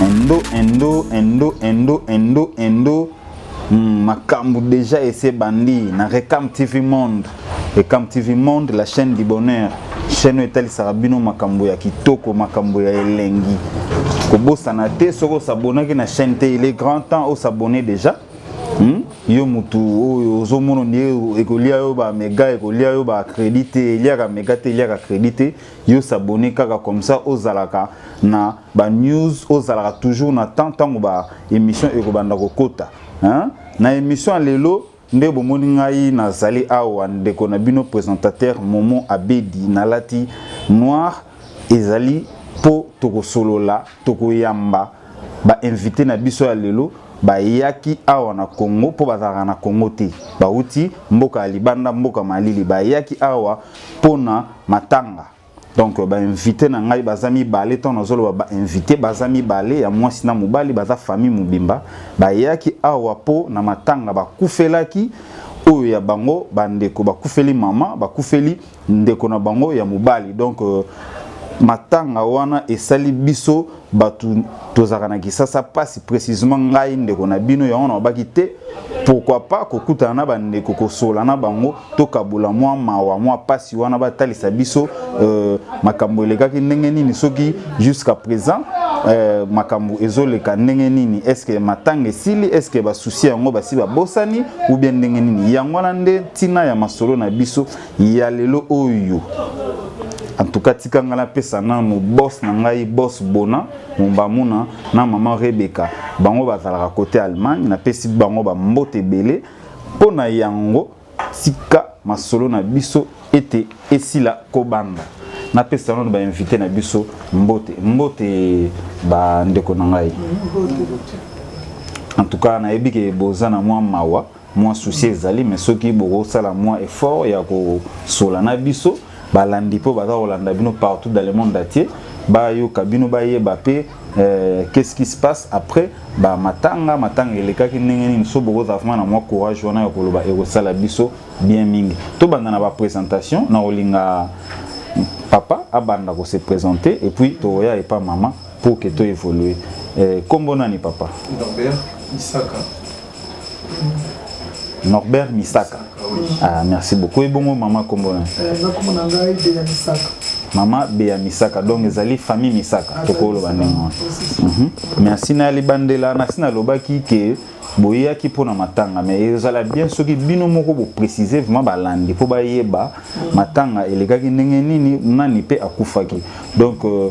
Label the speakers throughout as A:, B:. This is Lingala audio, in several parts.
A: Endo, endo, endo, endo, endo, endo. Hmm, makambo déjà ese bandi na Recam TV Monde. Recam TV Monde, la chaîne du bonheur. Chaîne oyo etalisaka bino makambo ya kitoko, makambo ya elengi. Kobosana te soko osabonaki na chaîne te, il est grand temps osabone déjà. Hmm? yo mutu oyo ozomona nde ekolia yo ba mega ekolia yo ba credit te eliaka mega te eliaka credit te yo s'abonner kaka comme ça ozalaka na ba news ozalaka toujours na temps tango ba émission ekobanda kokota hein na émission lelo nde bomoni ngai nazali awa ndeko na bino présentateur momo abedi nalati noir ezali mpo tokosolola tokoyamba ba invité na biso ya lelo bayaki awa na Congo mpo bazalaka na Congo te bauti mboka ya libanda mboka malili bayaki awa mpo na matanga donc euh, bainvite na ngai baza mibale ntango nazoloba bainvite baza mibale ya mwasi na mobali baza famille mobimba bayaki awa mpo na matanga bakufelaki oyo ya bango bandeko bakufeli mama bakufeli ndeko na bango ya mobali donc euh, matanga wana esali biso bato tozalaka na kisasa mpasi précisement ngai ndeko na bino yango nalobaki te pourquoi pas kokutana na bandeko kosola na bango tokabola mwa mawa mwa mpasi wana batalisa biso euh, makambo elekaki ndenge nini soki jusqu'à présent euh, makambo ezoleka ndenge nini estce matanga esili estce basusi yango basi babosani ou bien ndenge nini yango wana nde ntina ya masolo na biso ya lelo oyo en tout cas tika ngai napesa nano boss na ngai boss bona mombamuna na mama rebeka bango bazalaka kote allemagne napesi bango bambote ebele mpo na yango tika masolo na biso ete esila kobanda napesa nano bainvite na biso mbote mbote bandeko na ngai en tout cas nayebi ke boza na mwa mawa mwa souci ezali mais soki bokosala mwa effort ya kosola na biso balandi mpo baza kolanda bino partout dans le monde entier bayoka bino bayeba mpe euh, qu'est-ce qui se passe après ba matanga matanga elekaki ndenge nini so bokozala vraimen na mwa courage wana ya koloba ekosala biso bien mingi tobanda na baprésentation na kolinga papa abanda kose présente et puis tokoya epa mama pour que to évoluer euh, kombo nani papa Norbert Misaka Norbert Misaka ah merci beaucoup et bongo maman kombo nani euh, na kombo na ngai de Misaka mama beya misaka donc ezali famille misaka ah, tokoloba ndenge wana mhm. merci na libandela nasi nalobaki ke boyaki mpo na matanga mais ezala bien soki bino moko boprécise vraiment balandi mpo bayeba mm. matanga elekaki ndenge nini nani mpe akufaki donc euh,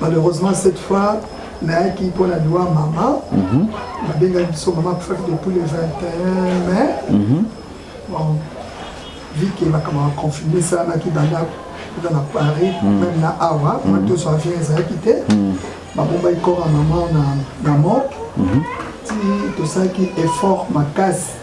B: Malheureusement cette fois nayaki mpo na liwa mama mhm. babengaki biso mama akufaki depuis le 21 mai mhm. bon vu ke makambo ya confirme esalamaki banda kuta na paris mhm. meme na awa ma toso avion ezalaki te babombaki kora mama na morgue ti tosalaki effort makasi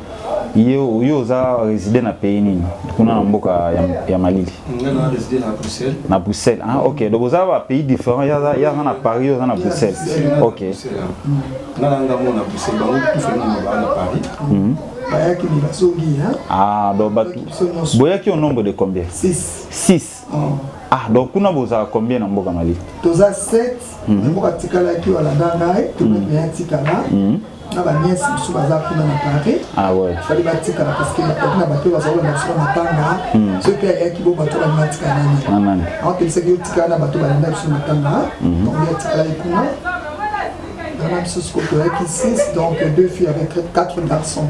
A: yo yo oza résident na pays nini kuna na mboka ya, ya malili
C: na bruxelles ah, ok
A: donc oza ba pays différent yaza na paris yo oza na bruxelles ok
C: mhm.
B: ah donc bato
A: boyaki au nombre de combien 6 Ah, donc kuna bozala combien na mboka Mali Toza 7,
B: mm -hmm. mboka tikalaki wala dangai, tout le monde est tikala. Mm -hmm. na baniese mosusu baza kuna na paris ah fali
A: batikala parceke
B: bakoki na bato bazakolanda biso na matanga hmm. soki ayaki bo bato balingi atikala na nani aokelisaki
A: otikala
B: na bato balanda biso na matanga hmm. donc atikalaki kuna bana biso sikoyo toyaki 6 donc deux filles avec quatre garçons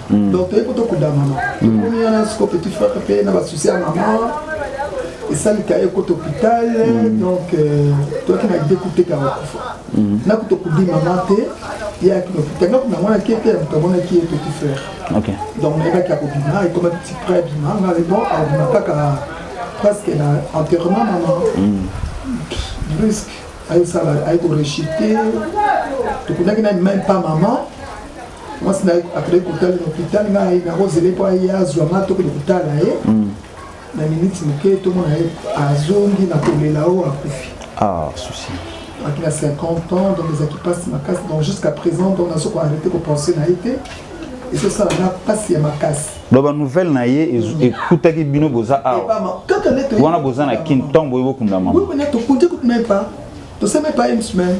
A: mm.
B: donc toyei mpo tokuda mama mm. tokomi wana siko petit frère mpe na basusi ya mama esalika ye kota hôpital mm. donc euh, toyaki na ide kuteka bakufa nakuta okudi mama te ye ayaki na hôpital ngaku na mwana ke mpe ya moto amonaki ye petit frère donc
A: nayebaki
B: akobima ekomaki ti près abima nga mais bon abima kaka presque na enterrement mama brusque ayosala ayekorechite tokundaki na même pas mama mwasi na ye akendaki kotala na hopital ngai nakozele mpo aye azwa ngai tokende kotala ye hmm. na miniti moke tomona ye azongi na kolela oyo akufi
A: ah, aki na 50
B: ans donc ezalaki mpasi makasi donc jusqu'à présent donc nazo koarrete kopense na ye te ezosala na mpasi ya makasi donc banouvelle na
A: ye ekutaki bino boza awa wana boza na kin ntango boye bokunda mama tokundi kutu meme
B: pas toseme pas une semaine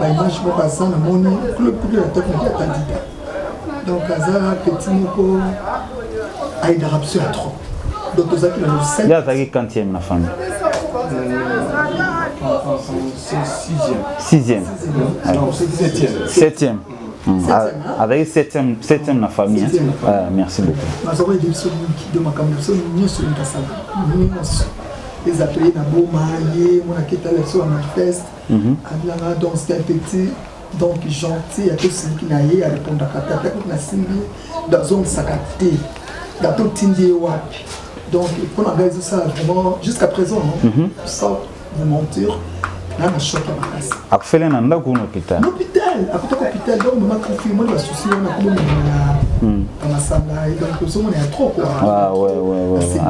B: ba image moko aza na moni club kutu na top moko atandida donc aza petit moko ayidaka biso ya trop donc tozalaki na losai azalaki quantième
A: na famille
C: sixième septième
A: azalaki septième septième na famille hein. merci beaucoup bazoko yede biso mingi de makambo biso nyonso elingi asala
B: nyonso ezapeye na boma ye mona ketala biso ya manifeste abilanga donc c'est un petit donc gentil ya tosiliki na ye arepondaka te ata kutu nasimbi ye dazongisaka te da totindi ye wapi donc mpo na ngai ezosala vraiment jusqu'à présent sans vous mentir nana choc ya makasi akufele na ndako na
A: hôpital hôpital akutaka
B: hôpital donc mama confirme na basusi wana komomemana na masanga donc ozomona ya trop quoi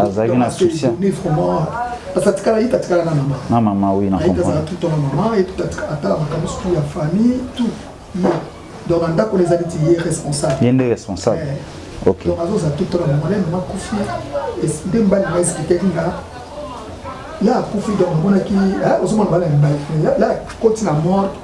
A: azalaki na souci vraiment
B: Parce atikala ye tatikala na mama. Na mama oui na comprendre.
A: Azala tout na mama et
B: tout atikala ata makambo surtout ya famille tout. Ye. Donc na ndako ezali ti ye responsable. Ye nde responsable.
A: Eh. OK. Donc azoza tout na
B: mama na mama kufi. Nde mbali na expliquer kinga là akufi donc omonaki ozomona bana ya mibali là akoti na mort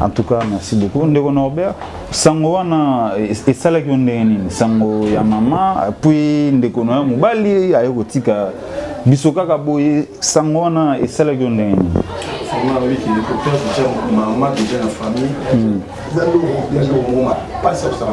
A: En tout cas, merci beaucoup. Ndeko Norbert, sango wana esalaki yo ndenge nini? Sango ya mama, puis ndeko na yo mobali aye kotika biso kaka boye, sango wana esalaki yo ndenge nini? Vraiment, oui,
C: qui découvert déjà maman déjà la famille. Hmm. Dans le monde, dans le monde, pas ça ça va.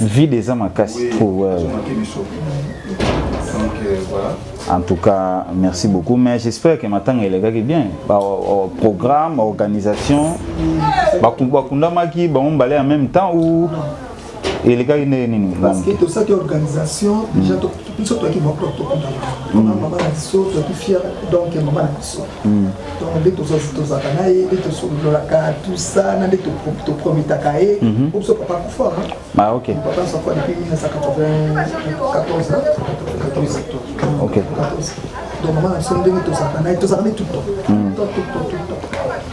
C: vide eza makasi
A: en tout
C: cas
A: merci beaucoup mais j'espère que matanga elekaki bien baprogramme baorganisation bakundamaki bango mbale en même temps ou elekaki ndenge nini parce que
B: tosalaki organisation déjà biso toyaki baprop tokunda tona mm. mama na biso toyaki fier donc ya mama na biso mm. donc nde tozalaka na ye nde tosololaka tout ça na nde toprometaka ye po mhm. biso papa kufa ah, papa safa
A: depuis
B: 1994 donc mama na biso ndenge tozalaka na ye tozalaka ne tout temps mm. tout temps tout temps tout temps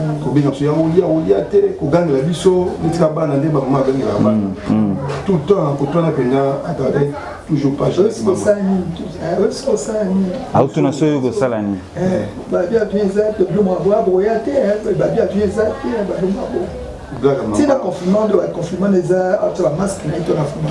C: Mm. kobenga biso ya olia olia te kogangela biso netika bana nde bamama agangelaka bana mm, mm. tout temps kotwana mpenza atade toujours pageautuna
A: so yo kosala nini
B: tina confinement nde confinement eza atala masque na ye tona fuma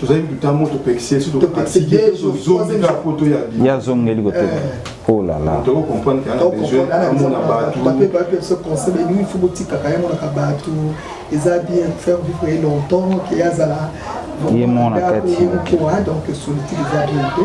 C: tozali kuta mo topekisi so tozonga po toya
A: ye azongeli kotoka eh. olala oh tokokomprendre
C: kaamona
B: batubapebapeseconseilfo botikaka ye monaka bato eza bien faire vivre ye longtemps ke azala ye mona
A: kati
B: donc solitude eza bien te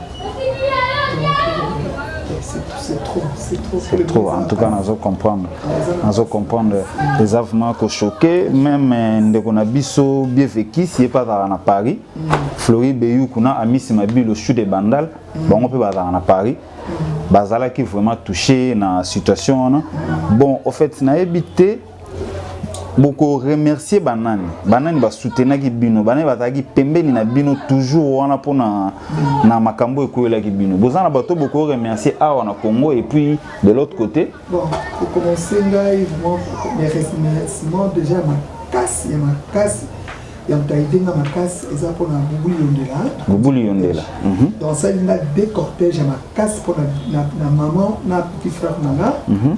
A: c'est trop en tout cas nazo comprendre nazo comprendre eza vraiment kochoke même euh, ndeko na biso bien vekis ye mpe azalaka na paris flori beyu kuna amisi mabilo sud de bandal bango mpe bazalaka na paris bazalaki vraiment touché na situation wana bon au fait nayebi te boko remercier banani banani basutenaki bino banani bazalaki pembeni na bino toujours wana mpo na, na makambo ekwelaki bino boza na bato boko remercier awa na congo et puis de l'autre côté bon, kokomense
B: ngai vraiment mes remerciements déjà makasi ya makasi ya moto aide nga makasi eza mpo na bubuli yondela bubuli yondela mhm. donc asali nga de cortège ya makasi mpo na maman na petit frère na nga mhm.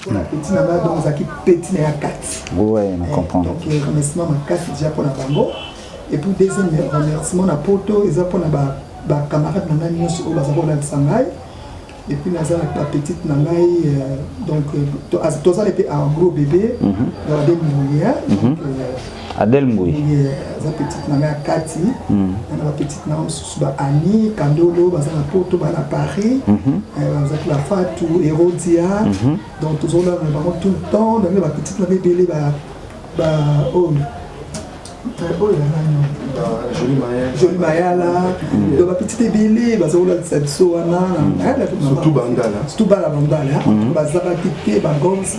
A: mpona
B: peti na ngai bongo ezalaki peti na ya kati eh,
A: donc eh, remerciement
B: makasi deja mpona bango epuis deuxième remerciement na poto eza mpona bacamarade na ngai nyonso oyo baza kolandisa ngai epuis naza na bapetite na ngai euh, donc euh, tozali mpe en gros bébé na babe molière Adèle
A: Mbuyi. Aza petite na
B: ngai Kati. Hmm. Na ba petite na mosusu ba Annie Kandolo baza na Porto ba na Paris. Mhm. Eh, baza la Fatou Erodia. Mhm. Donc toujours là na bango tout le temps na ba petite na bebele ba ba oh oyo ya nani joli mayala donc bapetite ebele baza kolalisa biso wana
C: surtout bala bandala
B: bazalaki te bagoms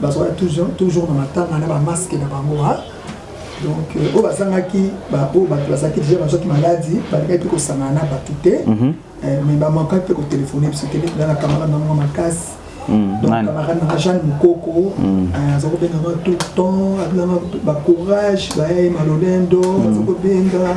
B: bazwaka toujours toujours na matanga na ba masque na bango ha donc euh, oyo bazangaki oyo bato bazalaki deja bazwaki maladi balingaki mpe kosangana na bato te mhm. euh, mais bamakaki mpe kotelefone biso te na camarade na bango makasi mhm. donc camarade nanga jeanne mokoko mhm. euh, aza kobengaka tout le temps abengaka bacourage baye malolendo aza kobenga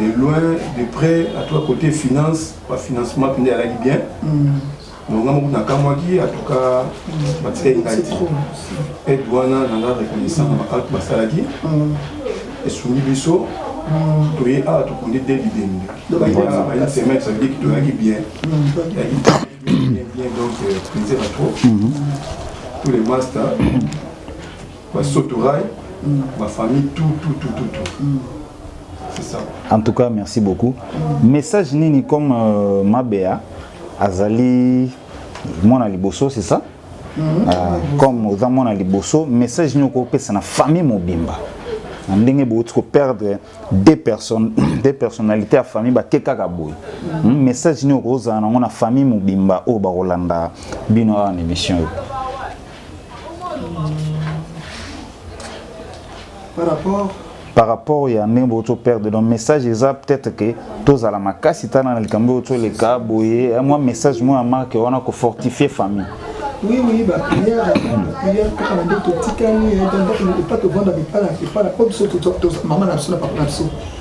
C: de loin de près à toi côté finance ba financement pende alaki bien donc nga moko nakamwaki en tout cas batikaki ngai te aide wana nanga reconnaissant na baacte basalaki esungi biso toye awa tokundi de bibembe une semaine ça veut dire que toyaki bien yaki bien bien donc plaisir à trop tous les masters ba sotorai ba famille tout tout tout tout tout mm. c'est ça en tout cas merci
A: beaucoup mm. message nini comme euh, mabea azali mwana liboso c'est ça mm -hmm. euh, comme oza mwana liboso message nini okopesa na famille mobimba na ndenge bouti koperdre deux personnes deux personnalité ya famille bake kaka boye hmm, message nini okozala nango na famille mobimba oyo bakolanda bino awa na émission oyo par rapport par rapport ya ndenge bokoki toperdre donc message eza peut-être ke tozala makasi tala na likambo oyo toleka boye mwa message moko ya marke wana kofortifie famille Oui, oui, bah,
B: prière, prière, kaka na nde totikali, epa tovanda bipala, epala, po biso, maman na biso na papa na biso,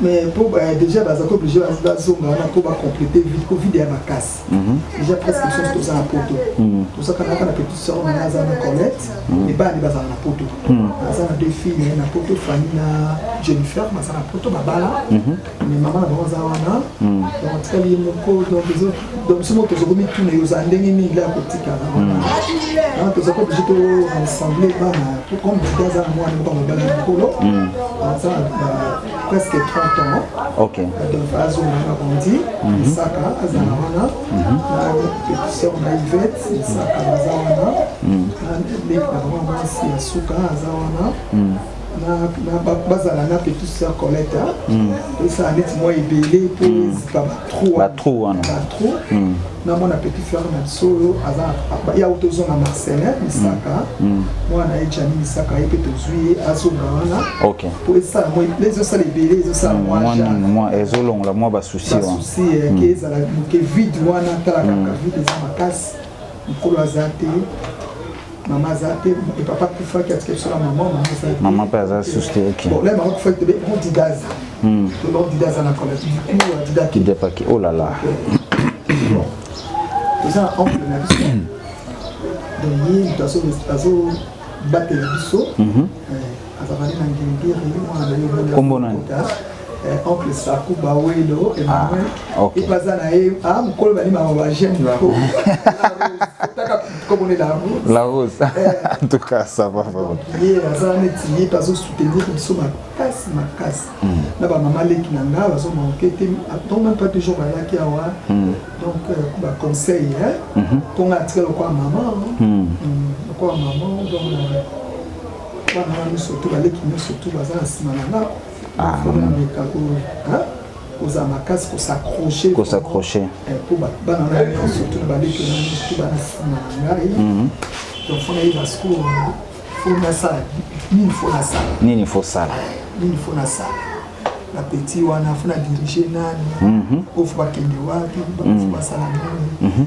A: mais mpo euh,
B: déjà bazalaki oblige bazonga wana mpo bacomplete vide po vide ya makasi mhm. déjà presque biso nyonso toza na poto mhm. tozaka naka na petit sor na aza na colette mhm. ebandi bazala na poto aza na deux filles naye na poto fani na jennifer baza na poto babala mais mama na bango aza wana donc atikali ye moko donc donc biso moko toza komituna yo ozala ndenge nini la kotikala wana toza ko oblige toensemble bana comme dida aza na mwana moko mobala ya mokolo aza presque 30 ans ok donc
A: azonga
B: na bondi isaka aza na wana na petite sœur na ivete isaka aza wana na leki na bango mwasi ya suka aza wana bazala na petuse ya colete esala neti mwa ebele mpo ezipa batrou wana batrou namona petit frère na biso oyo aza ya oyo tozonga marcelin misaka mwana na ye jani misaka ye mpe tozwi ye azonga wana mpo esala ezosala ebele ezosala mwa
A: ezolongola mwa basusi wana ke ezala
B: moke vide wana tala kaka vide eza makasi Mukolo aza te, mama aza te, et papa akufaki atika biso na mama, mama aza te. Mama pe aza
A: susu te, ok. Bon, là mama akufaki te, bon
B: dida aza. Hmm. Bon dida aza na kola, dida dida. Dida paki, oh là là. Bon. Toza na oncle na biso. Donc ye moto azo batela biso. Mhm. Euh, Azali na ngengeri mwana na yo Kombo nani?
A: Eh, oncle
B: Saku Bawelo Emmanuel ah, okay. epaza na
A: ye ah,
B: mokolo bani mama ba j'aime la rose otaka komone la rose la rose eh. en tout cas
A: ça va vraiment ye aza neti
B: ye mpe azosoutenir biso makasi makasi hmm. na bamama leki na nga bazomanke te donc même pas toujours bayaki awa hmm. donc euh, baconseil mpo hmm. nga atika lokola mama lokola mama donc euh, Bana wana nyonso tu baleki nyonso tu baza na nsima na nga ah, meka kozala makasi kosaccroche kosaccroche
A: mpo eh, bana na nyonso
B: tu baleki na nyonso tu bana nsima na ngai mhm. donc fo nayi basiko fo nasala nini fo
A: nasala nini fo sala nini fo nasala
B: na petit wana fo na dirige nani mhm. oyo fo bakende wapi fo mhm. basala nini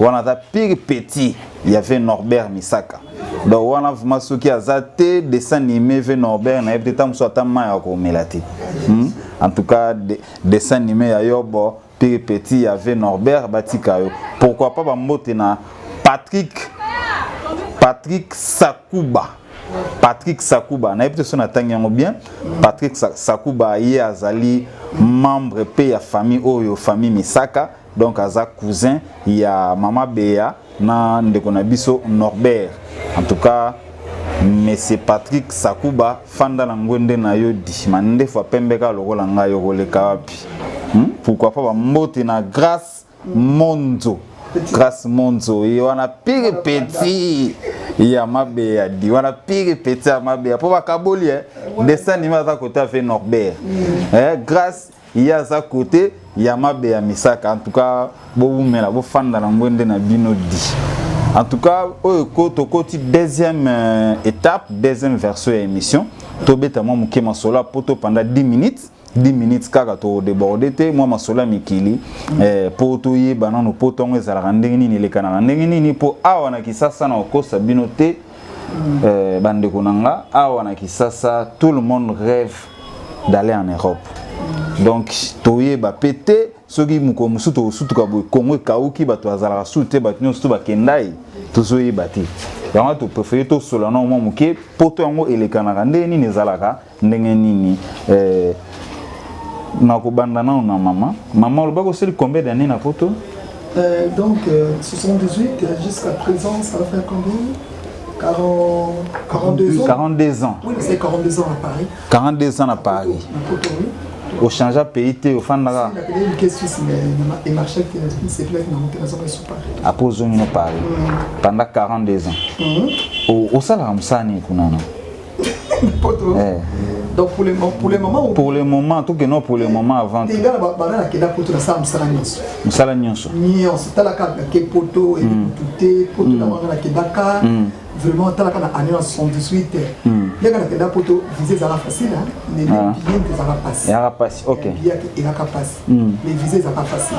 A: wana aza pire petit ya ve norbert misaka donc wana vrima soki aza te dessin anime ve norbert nayebi te ntango mosusu ata mai ya komela te hmm? en tout cas de, dessin anime ya yobo pire petit ya ve norbert batika yo pourquoi pas bambote na patrick patrick sakuba patrick sakuba nayebi te so natangi yango bien patrick sakuba ye azali membre mpe ya famille oyo famille misaka donc aza cousin ya mama beya na ndeko na biso norbert en tout cas monsieur patrick sakuba fanda na ngwende na yo di mandefu apembeka lokola ngai okoleka wapi hmm? pourquoi pas bambote na grace monzo grace monzo ye wana pire petit ya mabe ya di wana pire petit ya mabe ya mpo bakaboli eh? dessin nima aza kote afe norbert mm. eh, grace ye aza kote ya mabe ya misaka en tout cas bowumela bofanda na ngwende na bino di en tout cas oyo ko tokoti deuxième euh, étape deuxième version ya émission tobeta mwa moke masolo ya poto pendant 10 minutes 10 minutes kaka todeborde te mwa masolo ya mikili eh, mpo toyeba nano poto yango ezalaka ndenge nini elekanaka ndenge nini mpo awa na kisasa na kokosa bino te euh, bandeko na nga awa na kisasa tout le monde rêve d'aller en europe donc toyeba pe te soki mokolo mosusu tokosutuka boye kongo ekauki bato bazalaka sutu te bato nyonso to bakendai tozoyeba te yango topréfere tosolola na mwa moke poto yango elekanaka ndenge nini ezalaka ndenge nini eh, nakobanda nao na mama mama olobaki osili combien d'année na poto euh, donc
B: euh, 78 euh, jusqu'à présent ça va faire combien 40, 42 ans 42 ans oui c'est 42 ans à Paris 42 ans à Paris
A: na poto oui ochangea pays te ofandaka
B: apres ozongi no paris
A: pendant 42 ans osalaka mosala nini kunana poto eh. donc pour le moment
B: pour le moment pour le moment tout que
A: non pour le moment avant que ngala ba bana ke da
B: poto na sa musala nyonso musala nyonso
A: nyonso tala ka
B: ke poto et hmm. tout te poto na hmm. ngala ke da ka hmm. vraiment tala ka na année 78 ya kana ke da poto visa za facile hein mais ah. bien que ça va passer ya passer OK
A: ya ke ka
B: passer mais visa za facile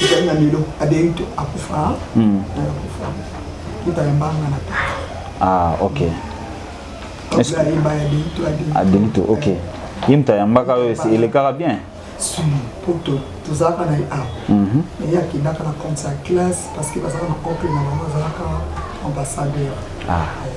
B: ezali na lelo adeyi to akufa akufa mutala
A: mbanga na ta ah ok adelito ok ye moto ayambaka oyo elekaka bien po
B: tozalaka na ye awa ye akendaka na compte ya classe parce que bazalaka na couple na bango azalaka ambassadeur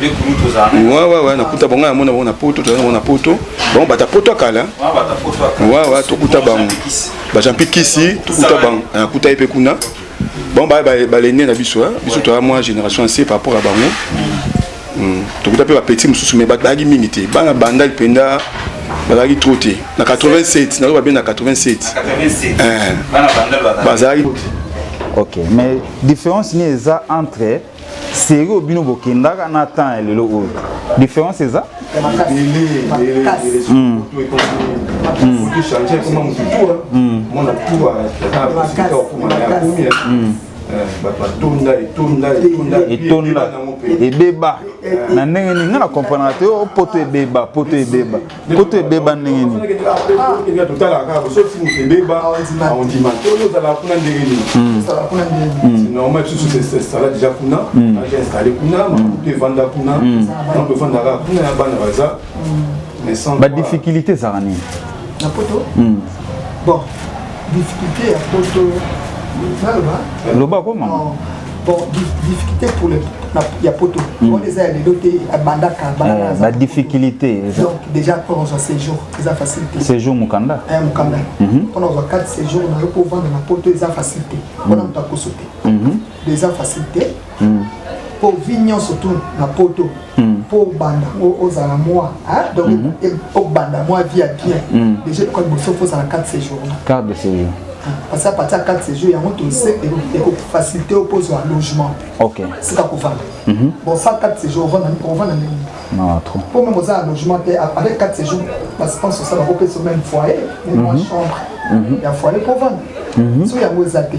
C: Ouais, ouais, ouais, nakuta bango yango nango na poto tozali nango na poto bango bata poto ya kala ouais, ouais, tokuta bango bajampi kisi tokuta bango nakuta ye mpe kuna bango balende na biso biso toya mwa génération ya se par rapport ya bango hmm, tokuta mpe bapeti mosusu mai bazalaki mingi te bana bandali mpenza bazalaki trop te na 87 nazo babe na 87 eh. bazalaki ok
A: mais différence nini eza entre serie oyo bino bokendaka na temps ya lelo oyo différence eza batonda etonda etonda etonda ebeba na ndenge nini nga na comprendre te o oh, poto ebeba poto ebeba Koto ebeba ndenge nini? Totalaka kaka boso ti moto ebeba ondima te oyo ozalaka kuna ndenge nini? Normalement biso susu esala deja kuna aja installe kuna makutu evanda kuna donc evanda kaka kuna ya bana baza badifficulté ezalaka nini? Na poto?
B: Bon
A: Difficulté ya poto naloba loba ko mama bon
B: difficulté pour les ya poto hmm. oyo eza ya lelo te abandaka eh, ba difficulté
A: donc déjà
B: mpona ozwa séjour eza facile te séjour mokanda eh,
A: mokanda
B: mpona mhm. ozwa 4 séjour na yo mpo ovanda na poto eza facile te mpona hmm. moto akoso te eza facile te mm. po vie nyonso tu na poto mm. po obanda ozala mwa donc mm -hmm. obanda mwa vie ya bien mm. déjà ekoka liboso fo ozala 4 séjour 4 de séjour
A: parce que à partir
B: ya 4 séjour yango tose ekofacilité yo mpo ozwa logement sika
A: kovanda
B: bon sa 4 séjour ovanda ndenge mpo meme oza
A: na logement
B: te avec 4 séjour baspence osala kopesa meme foyer meme mwa chambre ya foyer mpo ovanda so yango eza te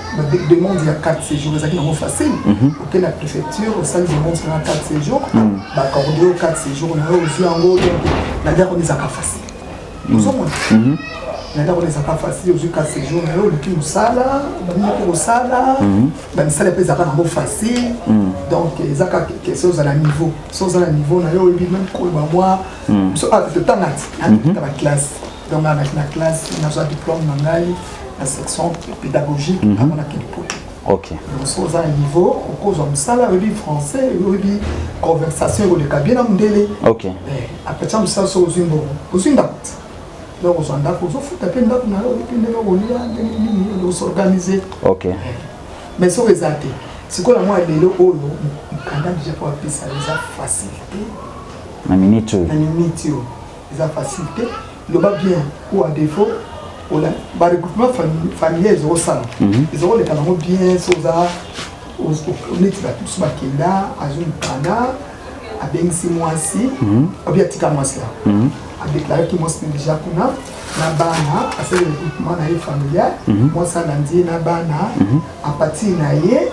B: ba demande ya carte séjour ezalaki nango facile mhm. oke na préfecture osali demande na carte séjour mhm. bakorde yo carte séjour na yo ozwi yango na ndako wana ezalaka facile mhm. ozomona na ndako wana ezalaka facile ozwi carte séjour na yo oluki mosala baningi mpe kosala bamisala mpe ezalaka nango facile donc eza kaka kese oza na niveau so oza na niveau na yo oyebi meme koloba mwa so ah, totangati na baklasse donc nalaki na classe nazwa diplôme na ngai na section pédagogique mhm. avant nakende poto okay. donc so
A: oza na
B: niveau okozwa mosala oyebi français oyebi conversation ekoleka bien na mondele okay. eh,
A: apetya mosala
B: so ozwi mbongo ozwi ndako te donc ozwa ndako ozofuta mpe ndako na yo oyebi ndenge okolia ndenge nini osorganize okay. eh,
A: mais soki
B: eza te sikoyo na mwa lelo oyo mokanda deja mpo apesa eza facilité na
A: minute oyo na minute oyo
B: eza facile te loba bien ou à défaut ola ba regroupement familial ezo sala mhm. ezo ko leka nango bien so za neti ba tous ba kenda azo mukana abengisi mwasi mhm. obi atika mwasi ya mhm. a déclaré ki mwasi déjà kuna na bana asali regroupement na ye familial mwasi alandi ye na bana a partir na ye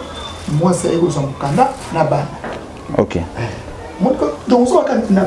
B: mwasi aye kozwa mokanda na bana ok
A: eh.
B: donc ozwaka na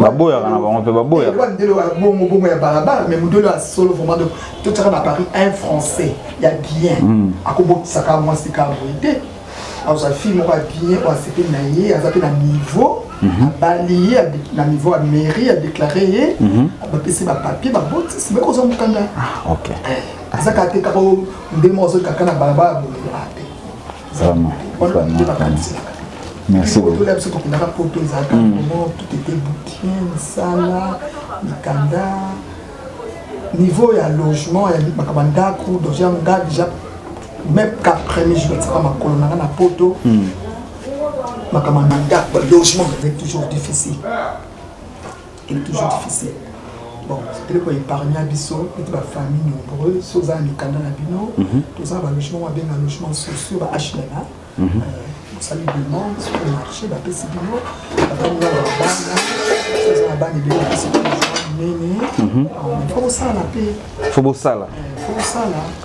B: baboyaka
A: na bango mpe baboyakandelo ya bongo bongo
B: ya balabala mais modelo ya solo vraiment donc totyaka na paris un français ya bien hmm. akobokisaka mwasi ka boye te azwa fille moko ya bien oyo asepeli na ye aza mpe na niveau mhm. abali ye na niveau ya mairie adeklare ye mhm. bapesi bapapier babotisi mpe kozwa mokanda ah, eh,
A: aza kaka
B: te kaka nde moko azokaka na balabala boye
A: Vraiment, vraiment. Merci beaucoup. Tout l'absent qu'on a raconté
B: aux attaques, vraiment, tout était bouquin, sala, mikanda, niveau ya logement, ya makaba ndako, donc ya nga déjà, même qu'à premier jour, ça va ma colonne, na poto, makaba ndako, logement, c'est toujours difficile. il est toujours difficile bon eloko épargna biso ete bafamille nombreux so oza na mikanda na bino mhm. toza na balogement oyo abenga logement sociaux ba hlma mhm. euh, osali demande sur le marché bapesi bino batango ya babanga oza na bana ebele bapesi nene fo bosala mpe fo bosala
A: fo bosala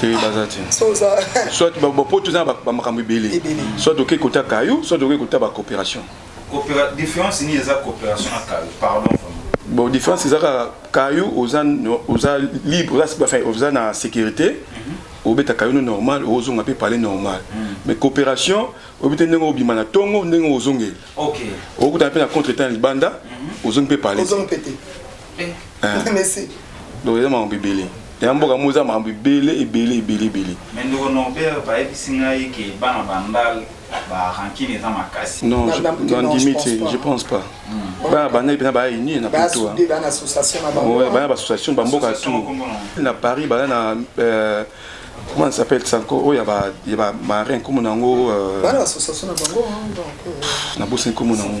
D: te baza te
B: soit bapoto
E: eza na bamakambo ebele soit okei kota kayo soit okei kota bacoopération différence
D: nini eza coopération na kayo pardon bon différence
E: eza kaka kayo oza oza libre oza enfin oza na sécurité mhm. obeta kayo no normal ozonga mpe palais normal mhm. mais coopération oyebi te ndenge obima na ntongo ndenge ozongeli
D: okutana mpe na
E: contre temps ya libanda mhm. ozongi mpe palais
B: Eh. Merci. Donc eza
E: makambo ebele. Ya mboka mo eza makambo ebele ebele ebele ebele. Mais ndeko
D: Norbert bayebisi ngai ke bana bandal ba rancune eza
E: makasi. Non, nandimi te, je pense pas. Hmm. Bana bandal mpena baya unie na poto. Bana baassociation bamboka tout. Na Paris baya na euh, comment ça s'appelle ça encore oyo ya bamarin nkomo na yango euh,
B: na bosi nkomo na
E: yango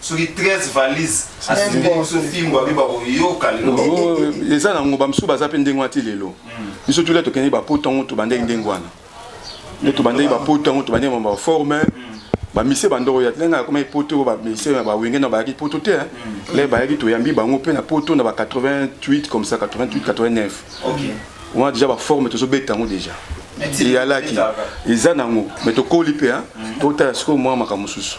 D: soki 13 valise asimbi biso fimbo
E: abi bakoyoka lelo oh, oh, oh, eza nango bamosusu baza mpe ndenge wana ti lelo hmm. biso tula tokendeki bapoto yango tobandaki ndenge wana nde tobandaki bapoto yango tobandaki mama baforme hmm. bamise bandoko ya ndenge akomaki poto oyo bamise ya bawenge na bayaki poto te hmm. le bayaki toyambi bango mpe na poto na ba 88 comme ça 88 89 wana deja baforme tozobeta yango deja eyalaki eza nango me tokoli mpe totala sikoyo mwa makambo mosusu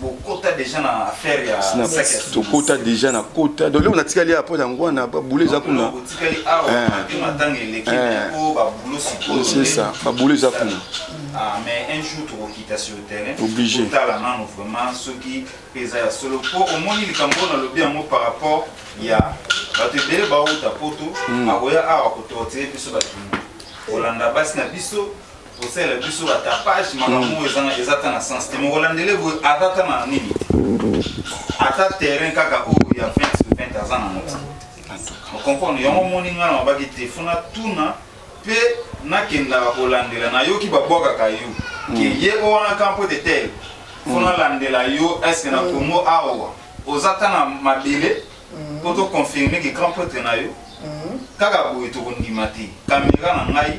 D: bokota deja na affaire ya Snapchat tokota
E: deja na kota donc lelo natikali ya mpo yango wana babule eza kuna otikali awa eh.
D: mpe matanga eleki eh. mpo babule sikoyo c'est ça babule
E: eza kuna ah, mais un
D: jour tokokita sur terrain obligé totala nano
E: vraiment
D: soki mpe eza ya solo mpo omoni likambo oyo nalobi yango par rapport ya bato ebele bawuta poto hmm. akoya awa kotortire biso bato kolanda basi na biso kosala biso ba tapage makambo oyo ezanga eza ata na sens te moko landele boye aza ata na nini ata terrain kaka oyo ya 20 sur 20 aza na moti okomprendre yango omoni ngai na mabaki te fona tuna mpe nakendaka kolandela nayoki babwakaka yo ke mm. ye o wana kampo de tel fona mm. landela yo eske na mm. kongo awa oza ata na mabele mpo to confirme ke grand prêtre na yo kaka boye tokondima te kamera na ngai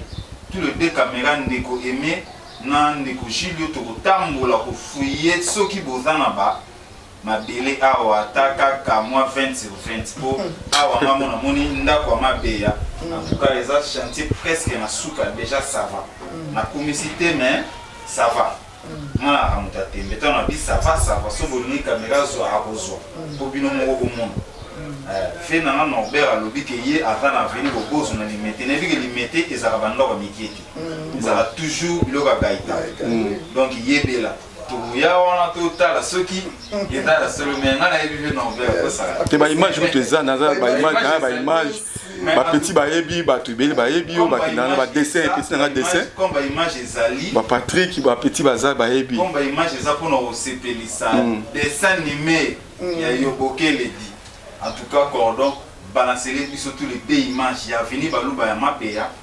D: tout le deux kamera ndeko aime na ndeko julio tokotambola kofuye soki boza na ba mabele awa ata kaka mwa 20 sur 20 mpo awa nga mona moni ndako ya mabeya antuka eza chantier presque na suka deja sava nakumisi te mais sava nga naka moto ya tembe tano abi sava sava so bolingi kamera azwa akozwa po bino moko bomona eh, fe na nga norbert alobi ke ye aza na aveni bobozo na limete nayebi ke limete ezalaka bandoko ya mikie te mm. ezalaka toujours biloko ya gaita mm. donc yebela tokoya wana totala soki te ba image kutu eza
E: naza ba image na ba image ba petit bayebi bato ebele bayebi yo bakenda na ba dessin petit na nga dessin
D: ba Patrick ba
E: petit baza bayebi comme ba image eza pona
D: osepelisa hmm. dessin animé hmm. ya yo bokele di en tout cas cordon balancele biso tous les deux images ya vini baluba ya mapeya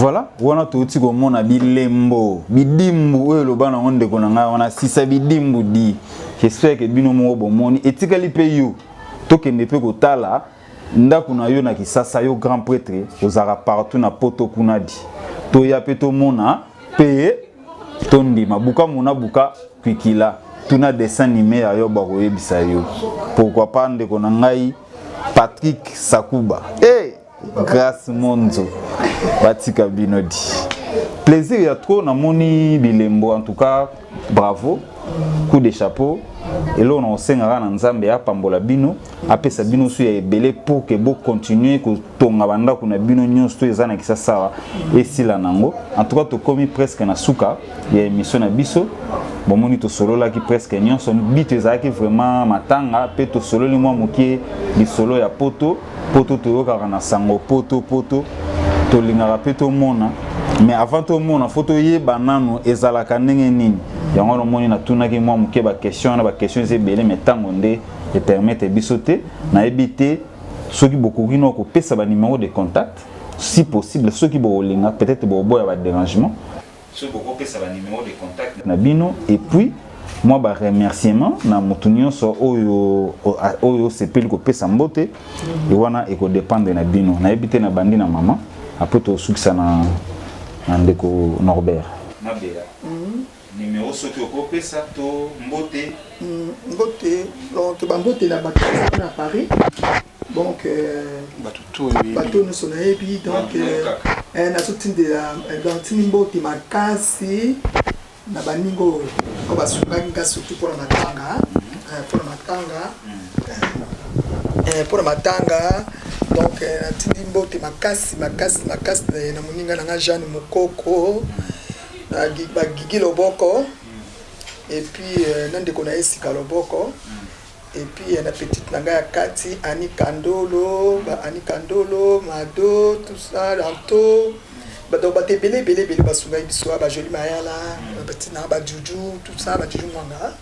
A: voilà wana touti komona bilembo bidimbu oyo eloba nango ndeko na ngai wana sisa bidimbu di j'espère ke bino moko bomoni etikali mpe yo tokende mpe kotala ndako na yo na kisasa yo grand prêtre ozalaka partout na poto kuna di toya mpe tomona mpe tondima buka mona buka kwikila tuna dessin anime ya yo bakoyebisa yo pourquoi pas ndeko na ngai patrick sakuba e eh, hey, grace monzo batika bino di plaisir ya trop namoni bilembo en tout cas bravo coup de chapeau eloko na kosengaka na nzambe apambola bino apesa bino nso ya ebele pour que bocontinue kotonga bandako na bino nyonso to eza na kisasa awa esila nango en tout cas tokomi presque na suka ya émission na biso bomoni tosololaki presque nyonso bito ezalaki vraiment matanga mpe tosololi mwa moke lisolo ya poto poto toyokaka na sango poto poto tolingaka mpe tomona mais avant tomona fo toyeba nanu ezalaka ndenge nini yango wana omoni natunaki mwa moke baquestion wana baquestion eza ebele mai ntango nde e permettre biso te nayebi te soki bokoki no kopesa ba numéro de contact si possible soki bokolinga peut-être bokoboya ba dérangement soki bokopesa
D: ba numéro de contact na bino et puis
A: mwa ba remerciement na motu nyonso oyo oyo osepeli kopesa mbote e wana ekodependre na bino nayebi te na bandi na mama apres tosukisa na, na ndeko norbert nabela mm -hmm.
B: Numero soki oko pesa to mbote. Mbote donc ba mbote na batu na Paris. Donc euh, batu to yebi. Batu no sona yebi donc euh, eh na soki de la eh, donc tini mbote makasi na baningo ko basungaki nga surtout pour na matanga eh, pour na matanga eh, pour na matanga donc natindi mbote makasi makasi makasi na moninga na nga jeanne mokoko na Gi- ba gigi loboko et puis euh, na ndeko na ye sika loboko et puis euh, na petite na ngai ya kati ani kandolo ba ani kandolo mado tout ça lanto Ba- donc bato ebele ebele ebele basungaki biso ah, ba joli mayala ba petite na ngai ba juju tout ça ba juju mwanga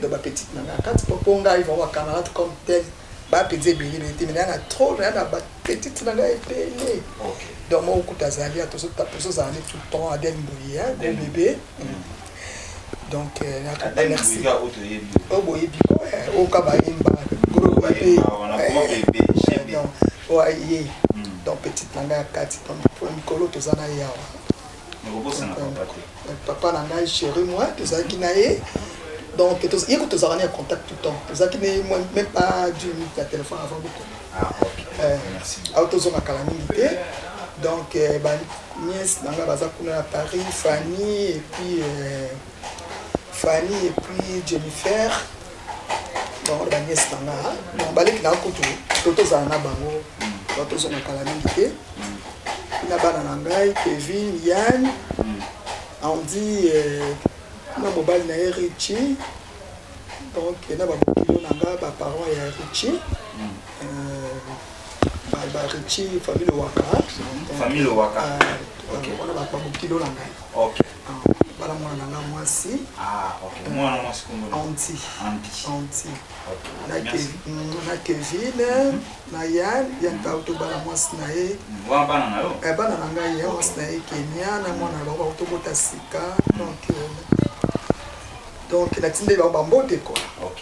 B: donc ba petite na ngai ya kati po po ngai vraiment ba camarade comme tel ba pizza ebele ebele te mais na na trop na na ba petite na ngai ebele donc moko kuta azali atozozala ne tout le temps adel mbuye hein, gros bebe donc euh, nakapa merci oyo boyebi ko oyo ka bayemba gros bebe oyo aye donc petite na ngai ya kati donc mikolo toza na ye awa papa na ngai chéri moi tozalaki na ye donc ye ko tozalaka na ye contact tout temps tozalaki na ye même pas du minute ya téléphone avant boko ah, eh, awa
D: tozonga kala mingi
B: te donc eh, baniese na ngai baza kuna na paris fanny et puis euh, fanny et puis jennifer bango na baniese na nga donc baleki na kutu to tozala na bango to tozonga kala mingi te na bana na ngai kevin yan andi euh, na mobali na ye richi donc na babokilo na nga baparent ya richi euh, barichi famille waka famille waka euh, wana babokilo na ngai
D: bala mwana
B: na nga mwasi
D: ah, anti
B: na kevin na yan ya ntau tobala mwasi na ye
D: eh, bana na ngai ya mwasi
B: na ye kenia na mwana loko bautobota sika donc euh, natindeli bango bambote kola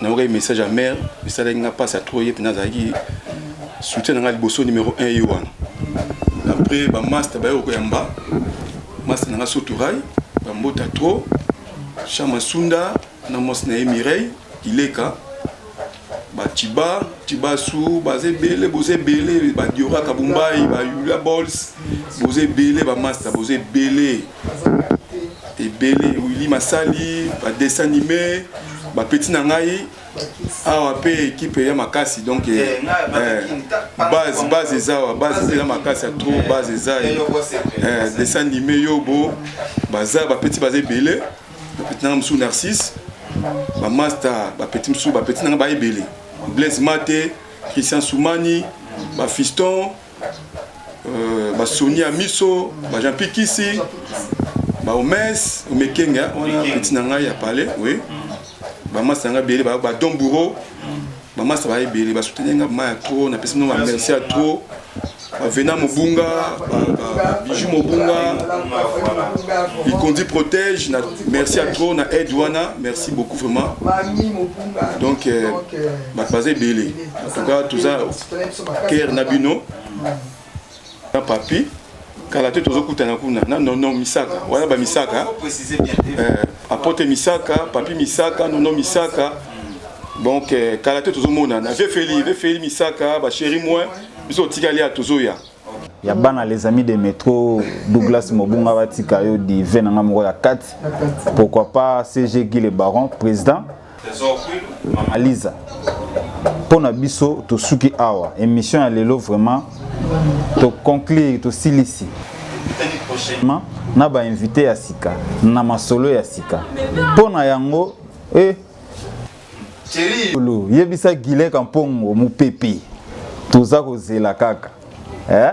E: nayokaki message ya mare esalaki nga mpasi ya trop ye mpena azalaki soutien na nga liboso numero 1 ye wana après bamaster baye koyamba master na nga soturai bambota trop chama sunda na mwasi na ye mireille ileka baciba cibasu baza ebele boza ebele badiora kabumbai bayula bols boza ebele bamasta boza ebele ebele wili masali ba dessin anime ba petit na ngai awa mpe ekipe ya makasi donc eh, eh, eh, base base eza awa base eza makasi ya trop base eza dessin anime yobo baza bapeti baza ebele bapeti nanga mosusu narcisse bamasta bapeti mosusu bapeti nanga baebele blaise mate christian soumani bafiston euh, basoni ya miso bajampikisi baomes omekenge wana peti na ngai ya palais oui bamasa na ngai ebele badon bouro bamasa baya ebele basuteni ngai bama ya trop napesi bino bamerci ya trop bavena mobunga biju mobunga bikondi protège na merci ya trop na aide wana merci beaucoup vraiment donc euh, bato baza ebele en tout cas toza ker na bino na papi kala te tozokutana kuna na nono misaka wana bamisaka eh, apote misaka papi misaka nono misaka donc eh, kala te tozomonana vefeli vefeli misaka basheri moi biso otikali ya tozoya ya bana
A: les amis de métro douglas mobunga batika yo dive na nga moko ya kati pourquoi pas cg guy le baron président Mama Liza, mpo na biso tosuki awa émission ya lelo vraiment to conclure tosilisi prochainement na ba invité ya sika na masolo ya sika mpo na yango eh, yebisa Gile Kampongo mopepe toza kozela kaka eh?